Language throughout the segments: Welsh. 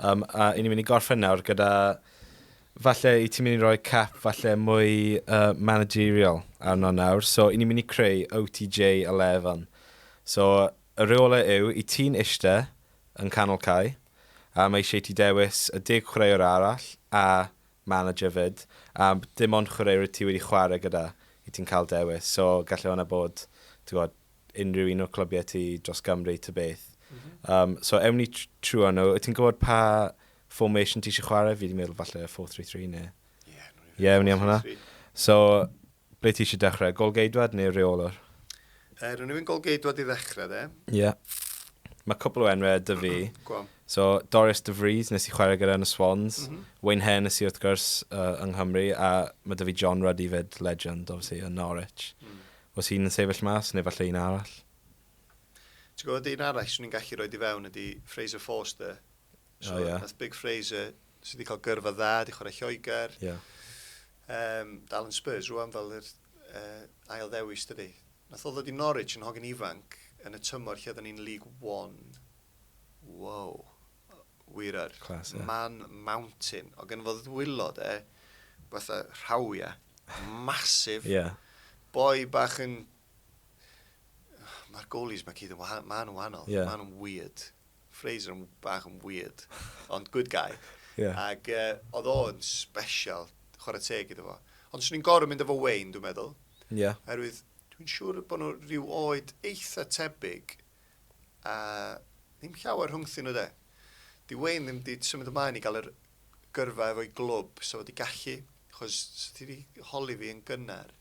Yym, a i ni'n mynd i gorffen nawr gyda, falle i ti'n mynd i roi cap falle mwy uh, managerial arno nawr. So, i ni'n mynd i creu OTJ 11. So, y rheolau yw, i ti'n ishte yn canol cae, a mae eisiau ti dewis y deg chwaraewr arall a manager fyd, a dim ond chwaraewr ti wedi chwarae gyda i ti'n cael dewis. So, gallu hwnna bod, ti'n gwybod, unrhyw un o clybiau ti dros Gymru ta beth. Mm -hmm. um, so ewn ni trwy nhw. Wyt ti'n gwybod pa formation ti eisiau chwarae? Fi wedi meddwl falle 4-3-3 neu... Ie, yeah, no, yeah, ewn ni am hwnna. So, ble ti eisiau dechrau? Golgeidwad neu reolwr? E, rwy'n i'n golgeidwad i ddechrau, de. Ie. Yeah. Mae cwpl o enwau dy fi. So, Doris De Vries nes i chwarae gyda yn y Swans. Mm -hmm. Wayne Hen nes i wrth gwrs uh, yng Nghymru. A mae dy fi John Ruddy fyd, legend, obviously, yn Norwich. Mm. Os un yn sefyll mas, neu falle un arall. Ti'n gwybod un arall 'swn i'n gallu rhoi i fewn ydy Fraser Forster. So, oh, yeah. Nath Big Fraser, sydd wedi cael gyrfa dda, wedi chwarae Lloegr. Yeah. Um, dal yn Spurs rwan fel yr uh, ail ddewis dydy. Nath o ddod i Norwich yn hogyn ifanc yn y tymor lle oedden ni'n League One. Wow. Wired. Class, ie. Man Mountain. Oedd gynno fo ddwylo, de. Fatha rhaw, ie. Massive. Ie. Boi bach yn... Mae'r goalies mae cyd yn wahanol. Mae nhw'n wahanol. Ie. Mae nhw'n weird. Fraser yn bach yn weird. Ond good guy. Ie. Ac uh, oedd o'n special. Chwarae teg iddo fo. Ond swn i'n gorau mynd efo Wayne, dwi'n meddwl. Ie. Herwydd, dwi'n siŵr bod nhw rhyw oed eitha tebyg. a ddim llawer rhwngthyn nhw de. Di Wayne ddim wedi symud ymlaen i gael yr gyrfa efo'i glwb, so wedi gallu, chos sydd wedi holi fi yn gynnar,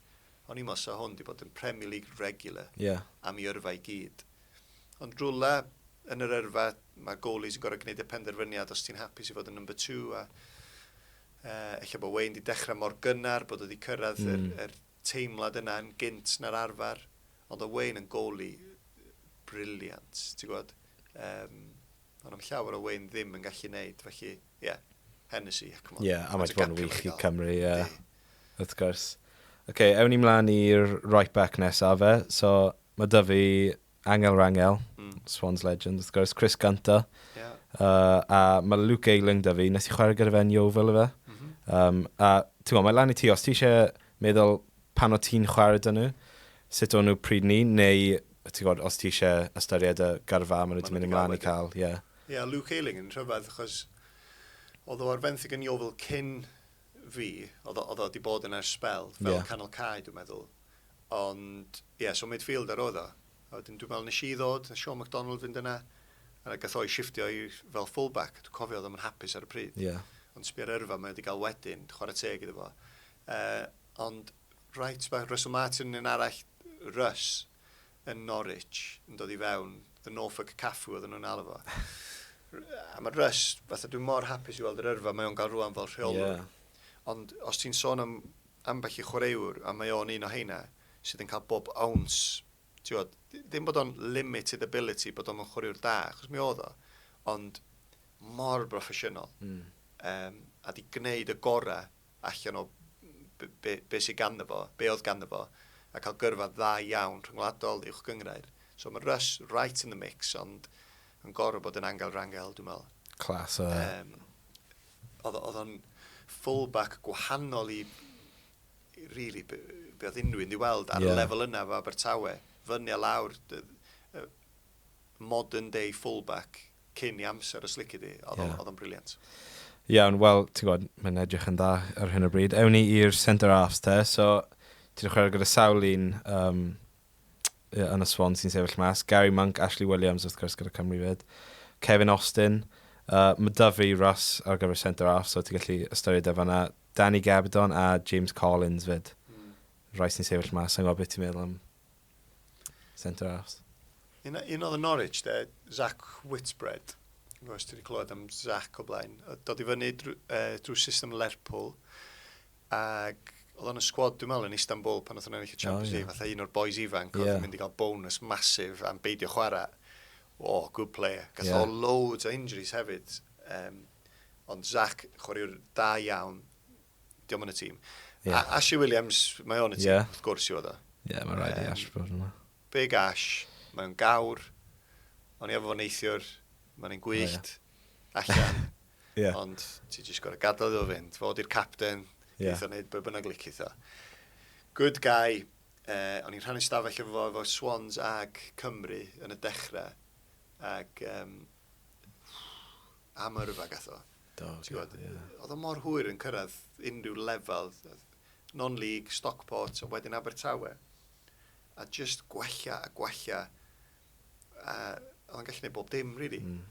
o'n i'n meddwl sa hwn wedi bod yn Premier League regular yeah. am i yrfa i gyd. Ond rhywle yn yr yrfa, mae goalies yn gorau gwneud y penderfyniad os ti'n hapus i fod yn number two, a uh, efallai bod Wayne wedi dechrau mor gynnar bod wedi cyrraedd mm. yr, yr teimlad yna yn gynt na'r arfer, ond oedd Wayne yn goalie brilliant, ti'n gwybod? Um, ond am llawer o Wayne ddim yn gallu neud, felly, ie, yeah, Hennessy, yeah, come on. Ie, yeah, a mae wedi bod yn wych i Cymru, ie, yeah, wrth gwrs. OK, ewn ni mlaen i'r right back nesaf fe. So, mae dyfu Angel Rangel, mm. Swans Legend, wrth gwrs, Chris Ganto. Yeah. Uh, a mae Luke Ayling da fi, nes i chwarae gyda fe'n Yeovil i fe. Mm -hmm. um, a ti'n gwybod, mae lan i ti, os ti eisiau meddwl pan o ti'n chwarae dyn nhw, sut o'n nhw pryd ni, neu ti'n gwybod, os ti eisiau ystyried y garfa, maen nhw wedi mynd ymlaen i cael. Ie, yeah. yeah, Luke Ayling yn rhyfedd, achos oedd o ar fenthyg yn Yeovil cyn fi, oedd o wedi bod yn ar spel fel yeah. canol cae, dwi'n meddwl. Ond, ie, so midfield ar oedd o. A wedyn dwi'n meddwl nes i ddod, nes Sean McDonald fynd yna, a gath o'i shiftio i fel fullback. Dwi'n cofio oedd o'n hapus ar y pryd. Yeah. Ond sbio'r yrfa mae wedi cael wedyn, chwarae teg iddo fo. Uh, ond, right back, Russell Martin yn arall, Russ, yn Norwich, yn dod i fewn, the Norfolk Caffu oedd nhw'n alw fo. a mae Russ, fatha dwi'n mor hapus i weld yr yrfa mae o'n cael rwan fel rheolwr. Yeah. Ond os ti'n sôn am ambell i chwaraewr, a mae o'n un o heina, sydd yn cael bob awns, ti'od, ddim bod o'n limited ability, bod o'm yn chwaraewr da, achos mi oedd o, ond mor broffesiynol, mm. um, a di gwneud y gorau allan o be, be, be sydd ganddo fo, be oedd ganddo fo, a cael gyrfa dda iawn rhyngwladol uwch gyngrair. So mae Russ right in the mix, ond yn gorau bod yn angel rangel, dwi'n meddwl. Clas o... Um, oedd oedd o'n fullback gwahanol i, really, be, be oedd unrhyw un i weld ar yeah. y lefel yna fo Abertawe. Fyny a lawr, uh, modern day fullback cyn i amser os lici di. Oedd yeah. o'n briliant. Iawn, wel, ti'n gwybod, mae'n edrych yn dda ar hyn o bryd. Ewn ni i'r centre halves te, so ti'n chwarae gyda sawl un um, yn y sfon sy'n sefyll mas. Gary Monk, Ashley Williams, wrth gwrs, gyda Cymru fyd. Kevin Austin. Uh, mae Dyfri Russ ar gyfer centre half, so ti'n gallu ystyried e fanna. Danny Gabidon a James Collins fyd. Mm. Rai sy'n sefyll mas, sy'n gwybod beth ti'n meddwl am centre halves. Un, un oedd y Norwich, de, Zach Whitbread. Os ti'n clywed am Zach o blaen. Dod i fyny drwy, uh, drwy system Lerpwl. Ac oedd o'n y sgwad, dwi'n meddwl, yn Istanbul pan oedd o'n ennill y Champions oh, yeah. League, fatha un o'r boys ifanc, oedd yeah. yn mynd i gael bonus masif am beidio chwarae. O, oh, good player. Gath yeah. o loads o injuries hefyd. Um, ond Zach, chwaraewr da iawn, diolch yn y tîm. Yeah. A Ashley Williams, mae o'n y tîm, yeah. wrth gwrs i fod o. Ie, yeah, mae'n rhaid um, i Ash bod yna. Big Ash, mae'n gawr, o'n i efo neithiwr, mae'n ein gwyllt, oh, yeah. allan. Yeah. Ond ti jyst gorau gadael iddo fynd. Fod i'r capten, yeah. geitho wneud be bynnag licitho. Good guy. Uh, o'n i'n rhannu stafell efo fo, efo Swans ag Cymru yn y dechrau. Ac um, am yrfa gath o. Do, God, yeah. Oedd o mor hwyr yn cyrraedd unrhyw lefel, non-league, Stockport, a wedyn Abertawe. A just gwella a gwella. A oedd o'n gallu gwneud bob dim, really. Mm.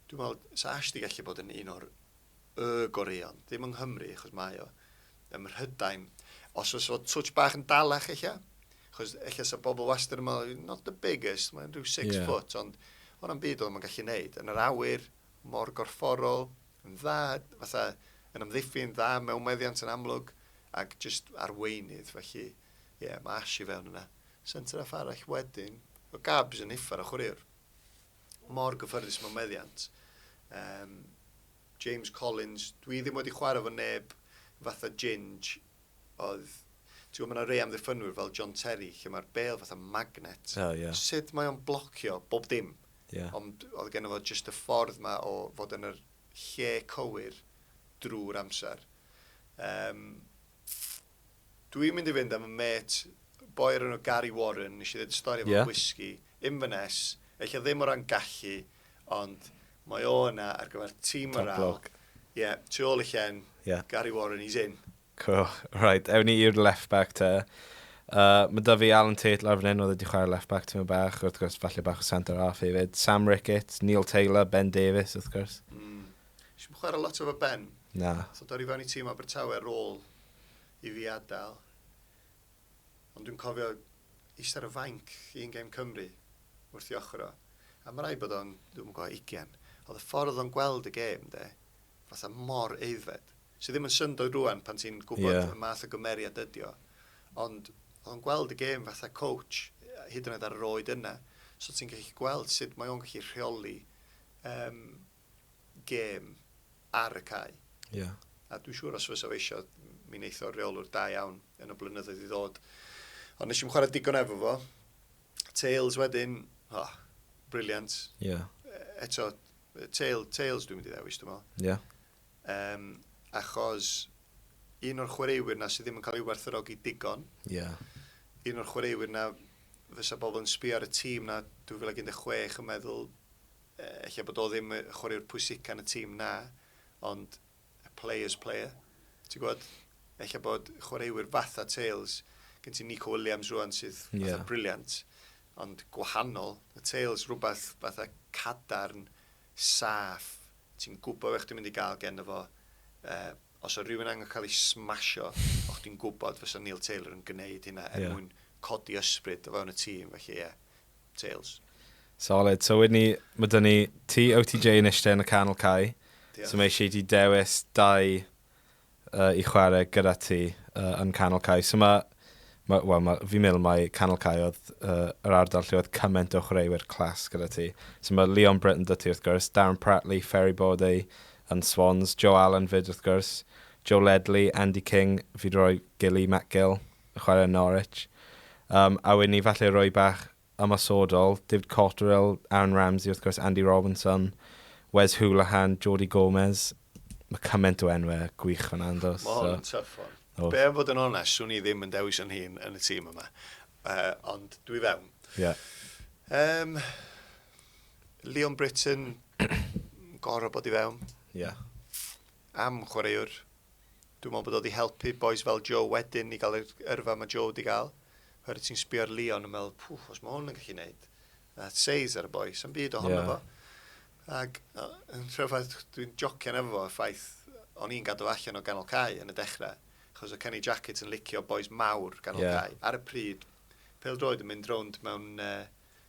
Dwi'n meddwl 'sa Ash 'di gallu bod yn un o'r y goreuon. Ddim yng Nghymru, achos mae o ym Mhrydain. Os oes fod twtch bach yn dalach eich Chos eich sa bobl wastad yn meddwl, not the biggest, mae'n rhyw six yeah. foot, ond o'n am byd oedd yma'n gallu neud. Yn yr awyr, mor gorfforol, yn dda, fatha yn ymddiffyn, dda mewn meddiant yn amlwg, ac just arweinydd, felly, ie, yeah, mae Ash i fewn yna. Centre off arall wedyn, o Gabs yn uffar o chwriwr. mor gyffyrddus mewn meddiant. Um, James Collins, dwi ddim wedi chwarae fo neb fatha Ginge oedd... Ti'n gwybod, mae yna rei amddiffynwyr fel John Terry, lle mae'r bel fatha magnet. Oh, yeah. Sut mae o'n blocio bob dim. Yeah. Ond oedd gen fo just y ffordd ma o fod yn yr lle cywir drwy'r amser. Um, Dwi'n mynd i fynd am y mêt, boi o'r enw Gary Warren, nes i ddeud y stori efo whisky, Inverness, ella ddim o ran gallu, ond mae o yna ar gyfer tîm morale. Top bloke. Ie, tu ôl i Llen, Gary Warren, he's in. Cool, reit, ewn ni i'r left back te. Mae 'da fi Alan Tate lawr fan hyn, oedd e 'di chwarae left back tipyn bach, wrth gwrs falle bach o centre half hefyd. Sam Rickett, Neil Taylor, Ben Davies wrth gwrs. Sim chwarae lot efo Ben. Na. Nath o dorri fewn i tîm Abertawe ar ôl i fi adael. Ond dwi'n cofio eistedd ar y fainc i un gem Cymru wrth i ochr o. A mae rai bod o'n, dwi'n gwybod, ugen. Oedd y ffordd o'n gweld y gem, de, fatha mor eiddfed. Sydd ddim yn syndod rwan pan ti'n gwybod yeah. y math o gymeriad ydi o. Ond oedd o'n gweld y gem fatha coach, hyd yn oed ar yr oed yna. So ti'n gallu gweld sut mae o'n gallu rheoli um, gêm ar y cae. Yeah. A dwi'n siŵr os fysa fe eisiau, mi wneith o'r reolwr da iawn yn y blynyddoedd i ddod. Ond nes i'n chwarae digon efo fo. Tails wedyn, oh, briliant. Yeah. Eto, tail, tails dwi'n mynd i ddewis, dwi'n meddwl. Yeah. Um, achos un o'r chwaraewyr na sydd ddim yn cael ei werthorogi digon. Yeah. Un o'r chwaraewyr na fysa bobl yn sbio ar y tîm na 2016 yn meddwl Ella bod o ddim y chwaraewr pwysica yn y tîm, na, ond a player's player, ti'n gwybod? Ella bod chwaraewyr fatha Tales, gen ti Nico Williams rwan sydd fatha yeah. briliant, ond gwahanol. Y Tales rhywbeth fatha cadarn, saff, ti'n gwybod beth chdi'n mynd i gael gen fo. Uh, os o rhywun angen cael ei smasho, o chdi'n gwybod fysa Neil Taylor yn gwneud hynna er yeah. mwyn codi ysbryd o fewn y tîm, felly ie. Yeah. Tails. Solid. So wedyn ni, mae dyn ni ti OTJ yn eisiau yn y canol cae. Diolch. So mae eisiau ti dewis dau uh, i chwarae gyda ti uh, yn canol cae. So mae, ma, well, ma, fi'n meddwl mae canol cae oedd uh, yr ardal lle oedd cymaint o chwaraewyr clas gyda ti. So mae Leon Britton dy ti wrth gwrs, Darren Pratley, Ferry Bode yn Swans, Joe Allen fyd wrth gwrs, Joe Ledley, Andy King, fi roi Gilly, Matt Gill. chwarae Norwich. Yym, a wedyn ni falle roi bach ymasodol, David Cotterill, Aaron Ramsey, wrth gwrs, Andy Robinson, Wes Hoolahan, Jody Gomez. Mae cymaint o enwau gwych fan'na, yn does? Mae hwn yn tough one. Oes. Be am fod yn onest, swn i ddim yn dewis yn hun yn y tîm yma. Uh, ond dwi fewn. Ie. Yeah. Um, Leon Britton, gorau bod i fewn. Ie. Yeah. am chwaraewr. Dwi'n meddwl bod o 'di helpu bois fel Joe wedyn i gael yr yrfa mae Joe 'di gael. Oherwydd ti'n sbio ar Leon yn meddwl, pwff, os mae hwn yn gallu neud. A seis ar y boi, sy'n byd ohono yeah. fo. Ac yn rhyfedd, dwi'n jocian efo fo, ffaith, o'n i'n gadw allan o ganol cae yn y dechrau, chos o Kenny Jackets yn licio bois mawr ganol yeah. cae. Ar y pryd, pel droed yn mynd rownd mewn uh,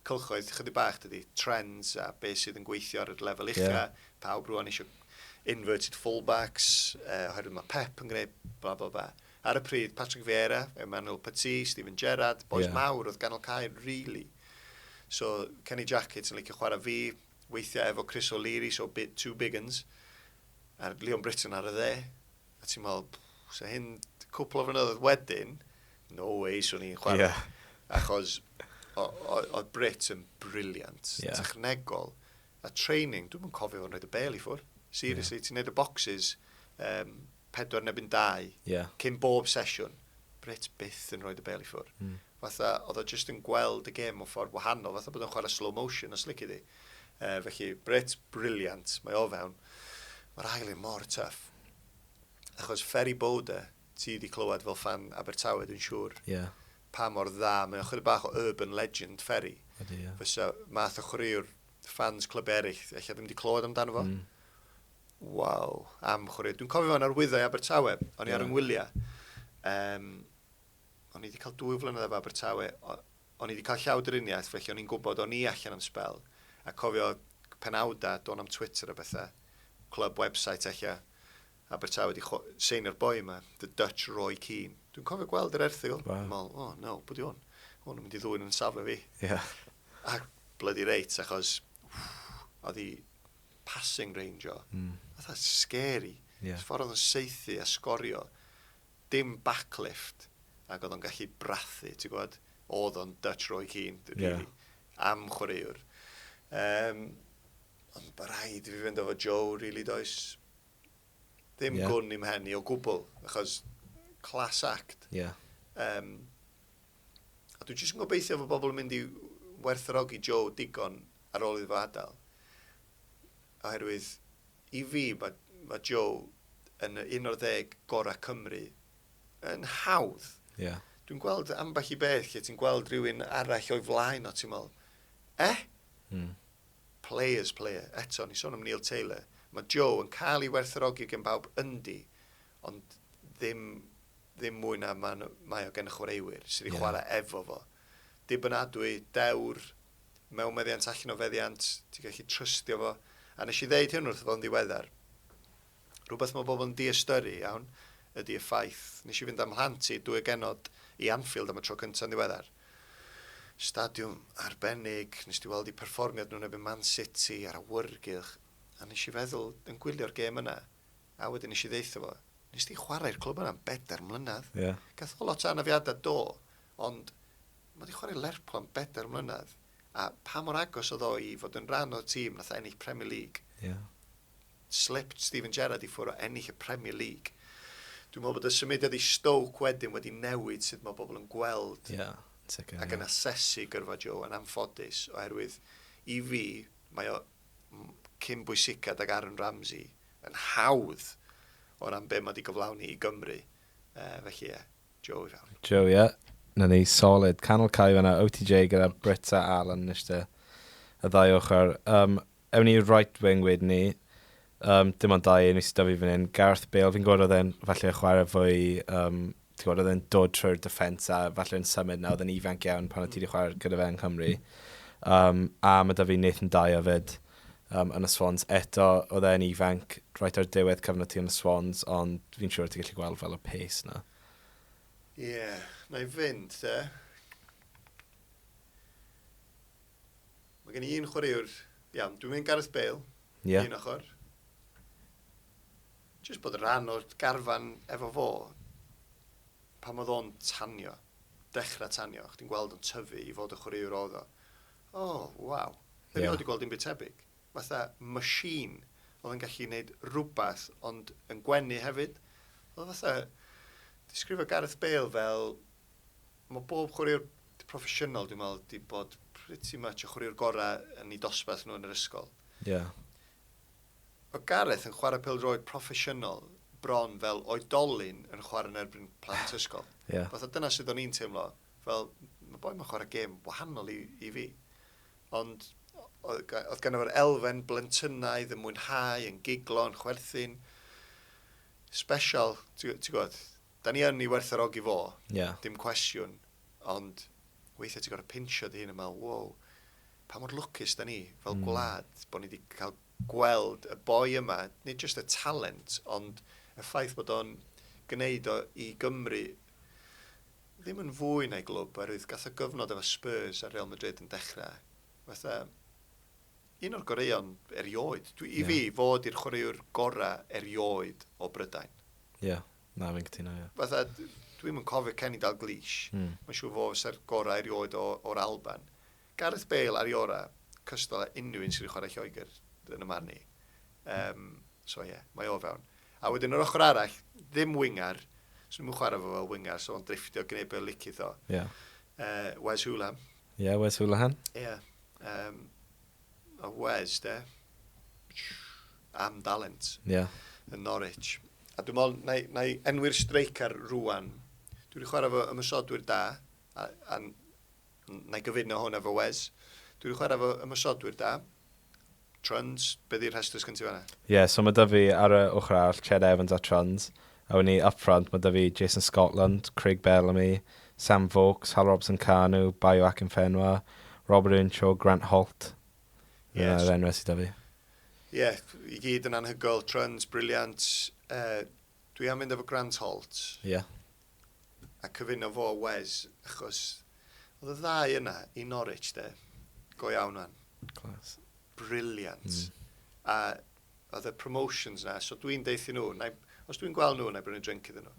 cylchoedd chydig bach dydy, trends a beth sydd yn gweithio ar y lefel ucha. Yeah. Pawb rwan eisiau inverted fullbacks, uh, oherwydd mae Pep yn gwneud bla bla bla. Ar y pryd, Patrick Vieira, Emmanuel Petit, Steven Gerrard, boes yeah. mawr oedd ganol cair, really. So, Kenny Jackett yn licio chwarae fi, weithiau efo Chris O'Leary, so bit two big uns, a Leon Britton ar y dde. A ti'n meddwl, so hyn, cwpl o flynyddoedd wedyn, no way, swn i'n chwarae. Yeah. Achos, oedd Brit yn briliant, yeah. technegol, a training, dwi'n mwyn cofio fo'n rhaid y bel i ffwr. Seriously, yeah. ti'n neud y boxes, um, pedwar nebyn dau, yeah. cyn bob sesiwn, Brit byth yn rhoi y bel i ffwr. Mm. fatha oedd o jyst yn gweld y gêm mewn ffordd wahanol, fatha bod o'n chwarae slow motion os lici di. Uh, felly, Brit, briliant, mae o fewn. Mae'r ail un mor tuff. Achos Ferry Bode, ti di clywed fel fan Abertawe, dwi'n siŵr. Ie. Yeah. Pa mor dda, mae o'n chwarae bach o urban legend, Ferry. Ydy, ie. Yeah. Fysa math o chwaraewr fans clyb eraill, eich ddim wedi clywed amdano fo. Mm. Waw, am chwaraewr. Dwi'n cofio fo'n arwyddo i Abertawe, o'n i yeah. ar yng Ngwyliau. Um, O'n i 'di cael dwy flynedd efo Abertawe, o'n i 'di cael llawdriniaeth, felly o'n i'n gwybod o'n i allan am sbel, a cofio penawdau, dôn am Twitter a bethau, clwb website ella, Abertawe wedi seinio'r boi yma, The Dutch Roy Keane. Dwi'n cofio gweld yr erthigol, wow. dwi'n meddwl, oh no, bwyd i hwn, hwn yn mynd i ddwy'n yn safle fi. Yeah. A bloody reit, achos oedd hi passing range o, mm. oedd scary, yeah. ffordd oedd yn seithi a sgorio, dim backlift, ac oedd o'n gallu brathu, ti'n gwybod? Oedd o'n Dutch Roy Keane, dwi'n yeah. rili am chwaraewr. Um, ond bod rhaid i fi fynd efo Joe, rili really, does. Ddim yeah. gwn i'm hen i o gwbl, achos class act. Yeah. Um, a dwi'n jyst yn gobeithio fod bobl yn mynd i werthrogi Joe digon ar ôl iddo fo adael. Oherwydd, I fi, mae Joe yn un o'r ddeg gorau Cymru yn hawdd. Yeah. Dwi'n gweld ambell i beth lle ti'n gweld rhywun arall o'i flaen o ti'n meddwl, eh? Mm. Players, player. Eto, ni sôn am Neil Taylor. Mae Joe yn cael ei werthorogi gen bawb yndi, ond ddim, ddim mwy na ma' n- mae o gen y chwaraewyr sy 'di... Ie. ...chwara' efo fo. Dibynadwy, dewr, mewn meddiant, allan o feddiant, ti'n gallu trystio fo. A nes i ddeud hyn wrtho fo'n ddiweddar, rhywbeth ma' bobl yn diystyrru, iawn, ydi y ffaith, nes i fynd â mhlant i dwy o genod i Anfield am y tro cynta' yn ddiweddar. Stadiwm arbennig, nes di weld 'u perfformiad nhw yn erbyn Man City, a'r awyrgylch, a nes i feddwl, yn gwylio'r gêm yna, A wedyn nes i ddeitha fo, nes di chwarae i'r clwb yna am bedair mlynedd. Ie. Yeah. Gath o lot o anafiadau do, ond mae wedi chwarae Lerpwl am bedair mlynedd. A pa mor agos oedd o i fod yn rhan o'r tîm nath ennill Premier League. Ie. Yeah. Slipped Steven Gerrard i ffwrdd o ennill y Premier League. Dwi'n meddwl bod y symudiad i Stoke wedyn wedi newid sut mae pobl yn gweld yeah, sicr, ac yn yeah. asesu gyrfa Joe yn anffodus, oherwydd i fi, mae o cyn bwysicad ag Aaron Ramsey yn hawdd o ran be' ma' 'di gyflawni i Gymru. Yy felly ie. Joe i fewn. Joe ie. 'Na ni. Solid. Canol cae fanna. OTJ gyda Brits a Allan yn ishte y ddau ochor. Yym ewn ni i'r right wing wedyn 'ny. Yym dim ond dau un wy sy 'da fi fan 'yn. Gareth Bale fi'n gwybod oedd e'n falle yn chwarae fwy yym ti'n gwybod oedd e'n dod trwy'r defence a falle yn symud 'na oedd e'n ifanc iawn pan oedd ti 'di chwarae gyda fe yng Nghymru. Um, a mae 'da fi Nathan Dyer 'fyd um, yn y Swans. Eto oedd e'n ifanc right ar diwedd cyfnod ti yn y Swans ond fi'n siŵr ti'n gallu gweld fel y pace 'na. Ie, yeah, na i fynd te. Mae gen i un chwaraewr, iawn, dwi'n mynd Gareth Bale, yeah. un ochr. Just bod rhan o'r garfan efo fo, pan oedd o'n tanio, dechrau tanio, chdi'n gweld o'n tyfu i fod y chwaraewr oedd o. O, oh, waw. Fe yeah. wedi gweld un byd tebyg. Fatha machine oedd yn gallu gwneud rhywbeth, ond yn gwenu hefyd. Oedd fatha, disgrifio Gareth Bale fel Mae bob chwaraewr proffesiynol, dwi'n meddwl, wedi bod pretty much y chwaraewr gorau yn ei dosbarth nhw yn yr ysgol. Ie. Yeah. Mae Gareth yn chwarae pêl-droed proffesiynol bron fel oedolyn yn chwarae yn erbyn plant ysgol. Ie. Yeah. Fatha dyna sydd o'n i'n teimlo. Fel, mae boi mae'n chwarae gêm wahanol i, i fi. Ond oedd gan efo'r elfen blentynnaidd yn mwynhau, yn giglo, yn chwerthin. Special, ti'n gwybod? Da ni yn 'i werthfawrogi fo, dim cwestiwn, ond weithiau ti'n gorfod pinsio dy hun a meddwl, wow, pa mor lwcus da ni fel gwlad bod ni wedi cael gweld y boi yma, nid jyst y talent, ond y ffaith bod o'n gwneud o i Gymru ddim yn fwy na'i glwb, oherwydd gath o gyfnod efo Spurs a Real Madrid yn dechrau fatha un o'r goreuon erioed. Dwi, I fi, fo ydy'r chwaraewr gorau erioed o Brydain. Ie. Yeah. Na, fi'n cytuno, ie. Fatha, dwi'm yn cofio Kenny Dalglish. Mm. Mae'n siŵr fo fysa'r gorau erioed o, o'r Alban. Gareth Bale ar ei ora, cystal â unrhyw un sydd wedi chwarae Lloegr, yn y marn i. Um, so ie, yeah, mae o fewn. A wedyn yr ochr arall, ddim wingar, so nhw'n chwarae fo fel wingar, so o'n drifftio gneud beth licith o. Ie. Yeah. Uh, Wes Hulahan. Ie, yeah, Wes Hulahan. Ie. Yeah. Um, o Wes, de. Am dalent. Ie. Yeah. Yn Norwich. A dwi'n meddwl, na i, na i enwi'r streicar rwan. Dwi wedi chwarae fo ymwysodwyr da, a, a na i gyfuno hwn efo Wes. Dwi wedi chwarae fo ymwysodwyr da. Trons, be ddi'r rhestr sgyn ti fanna? Ie, yeah, so mae Dyfi ar y ochr arall, Ched Evans a Trons. Awn ni up front, mae 'da fi Jason Scotland, Craig Bellamy, Sam Vokes, Hal Robson-Kanu, Bayo Akinfenwa, Robert Earnshaw, Grant Holt. Ie, Dyna yr enwau sy 'da fi. Ie, i gyd yn anhygoel, Trunds, briliant. Uh, dwi am fynd efo Grant Holt. Ie. A cyfuno fo Wes, achos oedd y ddau yna i Norwich, de. Go iawn, man. Clas. Briliant. Mm. A oedd y promotions na, so dwi'n deithi nhw, na, os dwi'n gweld nhw, na i brynu drink iddyn nhw.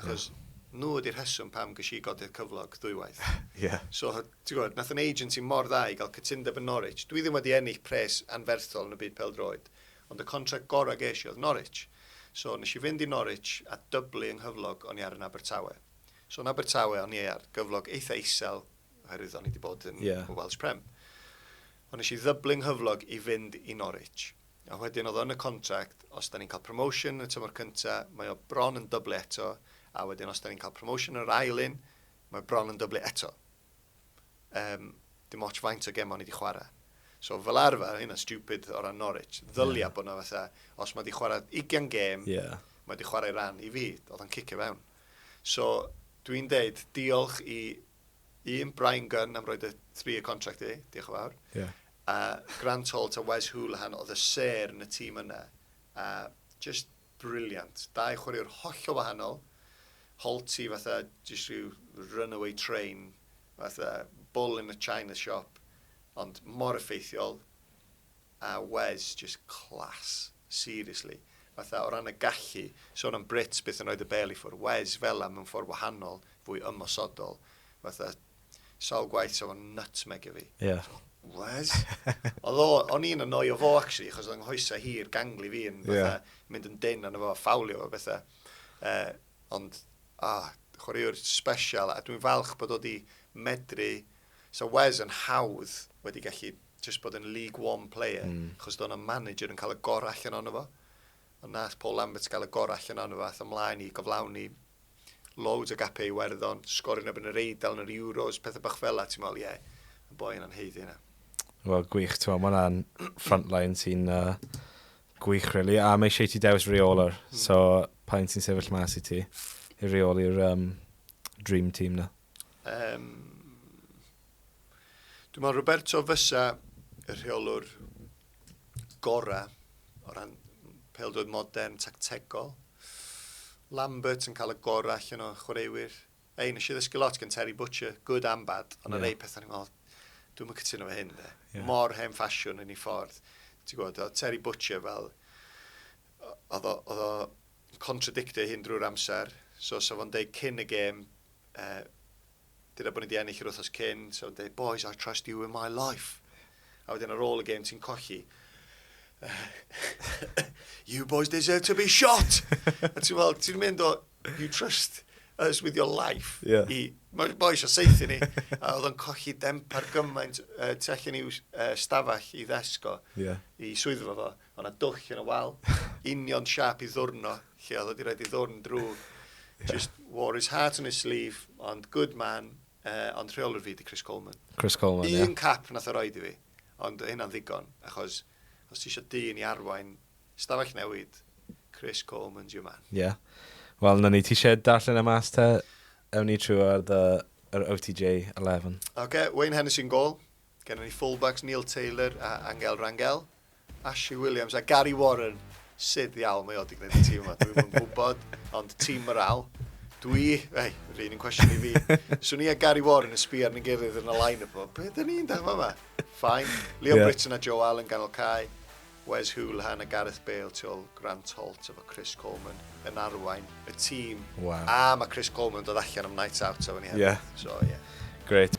Achos yeah. nhw ydy'r rheswm pam gysi i godydd cyflog ddwywaith. yeah. So, ti'n gwybod, nath yn agent i mor dda i gael cytundeb yn Norwich. Dwi ddim wedi ennill pres anferthol yn y byd peldroed, ond y contract gorau ges i oedd Norwich. So, nes i fynd i Norwich a dyblu yng nghyflog o'n i ar yn Abertawe. So, yn Abertawe o'n i ar gyflog eitha isel, oherwydd o'n i wedi bod yn yeah. Welsh Prem. Ond nes i ddyblu 'nghyflog i fynd i Norwich. A wedyn oedd o yn y contract, os 'da ni'n cael promotion yn y tymor cynta, mae o bron yn dyblu eto, a wedyn os 'da ni'n cael promotion yn yr ail un, mae o bron yn dyblu eto. Yym, dim ots faint o gemau o'n i 'di chwarae. So fel arfer, hynna'n stupid o ran Norwich, ddylia yeah. bod yna fatha, os mae 'di chwarae 20 gêm, yeah. mae 'di chwarae ran i fi, oedd o'n cicio fewn. So dwi'n deud diolch i un, Brian Gunn am roed y tri y contract i, diolch yn fawr. Yeah. A Grant Holt a Wes Houlihan oedd y ser yn y tîm yna. A just briliant. Dau chwaraewr hollol wahanol. Holt i fatha just rhyw runaway train, fatha bull in a china shop, ond mor effeithiol. a Wes jyst class, seriously. Fatha, o ran y gallu, sôn am Brits byth yn rhoid y bel i ffwr, Wes fela mewn ffordd wahanol, fwy ymosodol. Fatha, sawl gwaith sa fo'n nutmegio fi. Ie. Wes? Oedd o, o'n i'n annoio fo actually, achos oedd yng nghoesau hir, gangly fi yn fatha, mynd yn dyn arno fo, ffawlio fo bethau. Uh, ond, ah, chwaraewr special, a dwi'n falch bod o wedi medru, so Wes yn hawdd wedi gallu jyst bod yn League One player, mm. chos do'n y manager yn cael y gorau allan ono fo. Ond nath Paul Lambert gael y gorau allan ono fo, ath ymlaen i goflawni loads o gapau i werddon, sgorio neb yn yr eidl yn yr Euros, pethau bach fel la, ti'n meddwl, ie, yeah, y boi yna'n heiddi yna. Wel, gwych, ti'n meddwl, mae'n frontline sy'n uh, gwych, really. A mae eisiau ti dewis reoler, mm. so pa un sy'n sefyll mas i ti i reoli'r um, dream team na? Um, Dwi'n meddwl Roberto fysa y rheolwr gorau o ran peldwyd modern, tactegol. Lambert yn cael y gorau allan o chwaraewyr. Ei, nes i ddysgu lot gan Terry Butcher, good and bad, ond yeah. ar ei pethau ni'n meddwl, dwi'n mynd cytuno fe hyn, de. Yeah. Mor hen ffasiwn yn ei ffordd. Ti'n gwybod, oedd Terry Butcher fel... Oedd o contradictio hyn drwy'r amser. So, sa fo'n deud cyn y gêm, uh, Deuda bod ni 'di ennill yr wythnos cyn, so dweud boys I trust you with my life. A wedyn ar ôl y gêm ti'n colli. you boys deserve to be shot! a ti'n meddwl, ti'n mynd o, you trust us with your life. Yeah. I, mae'r boi eisiau seithi ni. a oedd o'n colli demp ar gymaint uh, tu allan i'w uh, stafell i ddesgo. Yeah. I swyddfa fo. Oedd 'na dwll yn y wal. Union siâp i ddwrno, lle oedd o 'di rhaid i ddwrn drwg. Just wore his heart on his sleeve, ond good man, uh, ond rheolwr fi di Chris Coleman. Chris Coleman, ie. Un cap nath o roi di fi, ond oedd hynna'n ddigon, achos os ti eisiau dyn i arwain stafell newid, Chris Coleman's your man. Ie. Yeah. Wel, na ni, ti eisiau darllen y mas te? Ewn ni trwy ar the, yr OTJ 11. OK, Wayne Hennessy yn gol. Gennym ni fullbacks Neil Taylor a Angel Rangel. Ashley Williams a Gary Warren, sut ddiawl mae o di gwneud y tîm yma? Dwi'm yn gwybod, ond tîm morale. Dwi, ei, yr un yn cwestiwn i fi. Swn i a Gary Warren yn sbi arni'n gilydd yn y line-up yma. Be dyn ni'n dam yma? Ffain. Liam yeah. Britton a Joe Allen ganol cae. Wes Houlihan a Gareth Bale tu ôl Grant Holt efo Chris Coleman yn arwain y tîm. Wow. A mae Chris Coleman yn dod allan am night out efo ni hefyd. Yeah. So, yeah. Great.